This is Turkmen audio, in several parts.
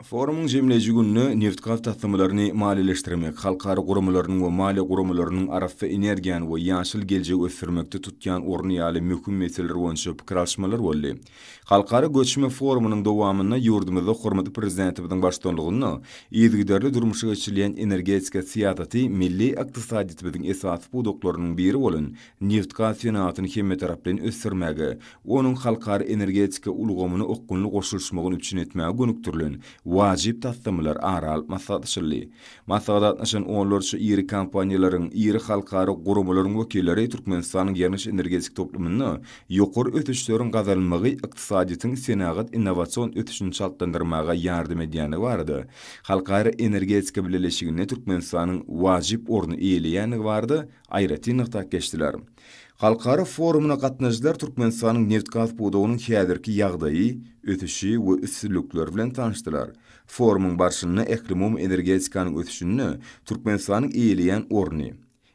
Forumyň jemleýji gününe nebitgaz taslamalaryny maliýeleşdirmek, halkara guramalarynyň we maliýe guramalarynyň arassa energiýany we ýaşyl geljegi ösdürmekde tutýan orny ýaly möhüm meseleler boýunça pikir alyşmalar boldy. Halkara göçme forumynyň dowamynda ýurdumyzda hormatly Prezidentimiziň baştutanlygynda yzygiderli durmuşa geçirilýän energetika syýasaty milli ykdysadyýetimiziň esasy pudaklarynyň biri bolan nebitgaz senagatyny hemmetaraplaýyn ösdürmäge, onuň halkara energetika ulgamyna okgunly goşulyşmagyny üpjün etmäge gönükdirilen wajyp taslamalary ara alyp maslahatlaşyldy. Maslahata gatnaşan onlarça iri kompaniýalaryň, iri halkara guramalaryň wekilleri Türkmenistanyň ýangyç-energetika toplumynda ýokary ösüşleriň gazanylmagy ykdysadyýetiň senagat innowasion ösüşini çaltlandyrmaga ýardam edýändigi barada, Halkara energetika bileleşiginde Türkmenistanyň wajyp orny eýeleýändigi barada aýratyn nygtap geçdiler. Halkara forumyna gatnaşyjylar Türkmenistanyň nebtgaz pudagynyň häzirki ýagdaýy, ösüşi we üstünlikleri bilen tanyşdylar. Forumyň barşynda ählumumy energetikanyň ösüşinde Türkmenistanyň eýeleýän orny,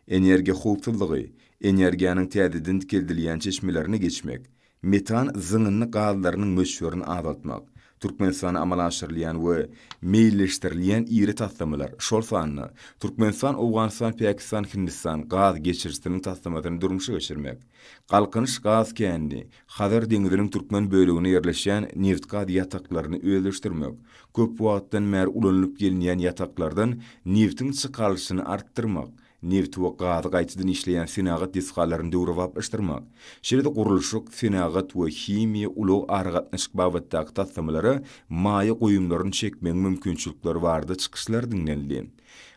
energiýa howpsuzlygy, energiýanyň täzeden dikeldilýän çeşmelerine geçmek, Metan zyňyndy gazlarynyň möçberini azaltmak, Türkmenistanda amala aşyrylýan we meýilleşdirilýän iri taslamalar, şol sanda Türkmenistan-Owganystan-Pakistan-Hindistan gaz geçirijisiniň taslamasyny durmuşa geçirmek, Galkynyş gaz kendi, Hazar deňziniň türkmen böleginde ýerleşýän nebitgaz ýataklaryny özleşdirmek, köp wagtdan bäri ulanylyp gelinýän ýataklardan nebitiň çykarylyşyny artdyrmak, nebiti we gazy gaýtadan işleýän senagat desgalaryny döwrebaplaşdyrmak, şeýle-de gurluşyk, senagat we himiýa, ulag, aragatnaşyk babatdaky taslamalara maýa goýumlaryny çekmegiň mümkinçilikleri barada çykyşlar diňlenildi.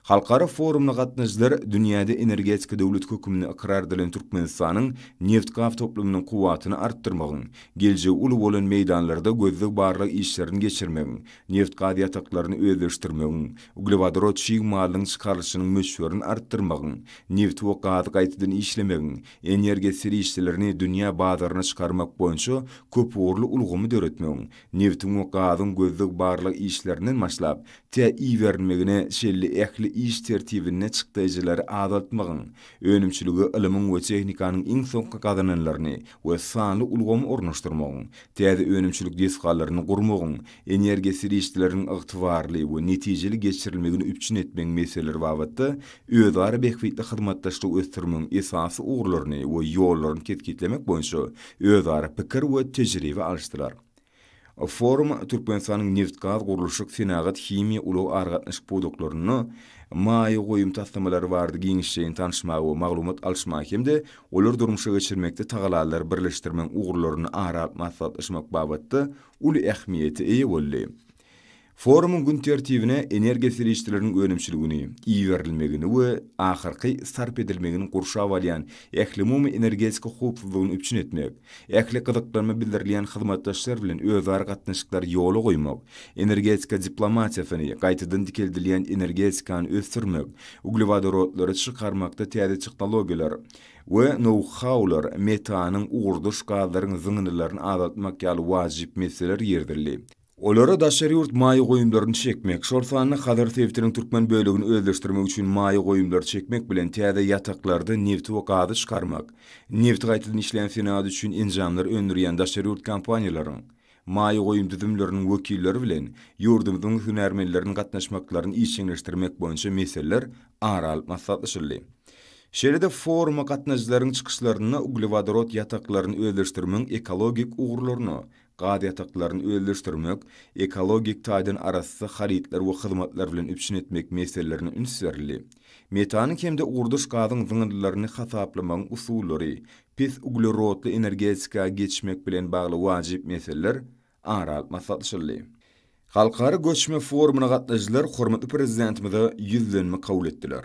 Halkara forumyna gatnaşyjylar dünýäde energetika döwleti hökmünde ykrar edilen Türkmenistanyň nebitgaz toplumynyň kuwwatyny artdyrmagyň, geljegi uly bolan meýdanlarda gözleg-barlag işlerini geçirmegiň, neft-gaz ýataklaryny özleşdirmegiň, uglewodorod çig malynyň çykarylyşynyň möçberini artdyrmagyň, nebti we gazy gaýtadan işlemegiň, energiýa serişdelerini dünýä bazaryna çykarmak boýunça köpugurly ulgamy döretmegiň, nebtiň we gazyň gözleg-barlag işlerinden başlap, tä iberilmegine çenli ähli iş tertibinde çykdaýjylary azaltmagyň, önümçilige ylymyň we tehnikanyň iň soňky gazananlaryny we sanly ulgamy ornaşdyrmagyň, täze önümçilik desgalaryny gurmagyň, energiýa serişdeleriniň ygtybarly we netijeli geçirilmegini üpjün etmegiň meseleleri babatda özara bähbitli hyzmatdaşlygy ösdürmegiň esasy ugurlaryny we ýollaryny kesgitlemek boýunça özara pikir we tejribe alyşdylar. Forum Türkmenistanyň nebit-gaz, gurluşyk, senagat, himiýa, ulag, aragatnaşyk pudaklarynda maýa goýum taslamalary barada giňişleýin tanyşmaga we maglumat alyşmaga hem-de olary durmuşa geçirmekde tagalallary birleşdirmegiň ugurlaryny ara alyp maslahatlaşmak babatda uly ähmiýete eýe boldy. Forumyň gün tertibine energiýa serişdeleriniň önümçiligini, iberilmegini we ahyrky sarp edilmegini gurşap alýan ählumumy energetika howpsuzlygyny üpjün etmek, ähli gyzyklanma bildirilýän hyzmatdaşlar bilen özara gatnaşyklary ýola goýmak, energetika diplomatiýasyny, gaýtadan dikeldilýän energetikany ösdürmek, uglewodorodlary çykarmakda täze tehnologiýalar we nou-haular, metanyň, ugurdaş gazlaryň zyňyndylaryny azaltmak ýaly wajyp meseleler girizildi. Olara daşary ýurt maýa goýumlaryny çekmek, şol sanda Hazar sebitiniň türkmen bölegini özleşdirmek üçin maýa goýumlary çekmek bilen täze ýataklarda nebiti we gazy çykarmak, nebiti gaýtadan işleýän senagat üçin enjamlar öndürýän daşary ýurt kompaniýalaryň maýa goýum düzümleriniň wekilleri bilen ýurdumyzyň hünärmenleriniň gatnaşmaklaryny işjeňleşdirmek boýunça meseleler ara alyp maslahatlaşyldy. Şeýle-de foruma gatnaşyjylaryň çykyşlarynda uglewodorod ýataklaryny özleşdirmegiň ekologik ugurlaryna, gaz ýataklaryny özleşdirmek, ekologik taýdan arassa harytlar we hyzmatlar bilen üpjün etmek meselelerine üns berildi. Metanyň hem-de ugurdaş gazyň zyňyndylaryny hasaplamagyň usullary, pes uglerodly energetika geçmek bilen bagly wajyp meseleler ara alyp maslahatlaşyldy. Halkara göçme forumyna gatnaşyjylar hormatly Prezidentimize Ýüzlenme kabul etdiler.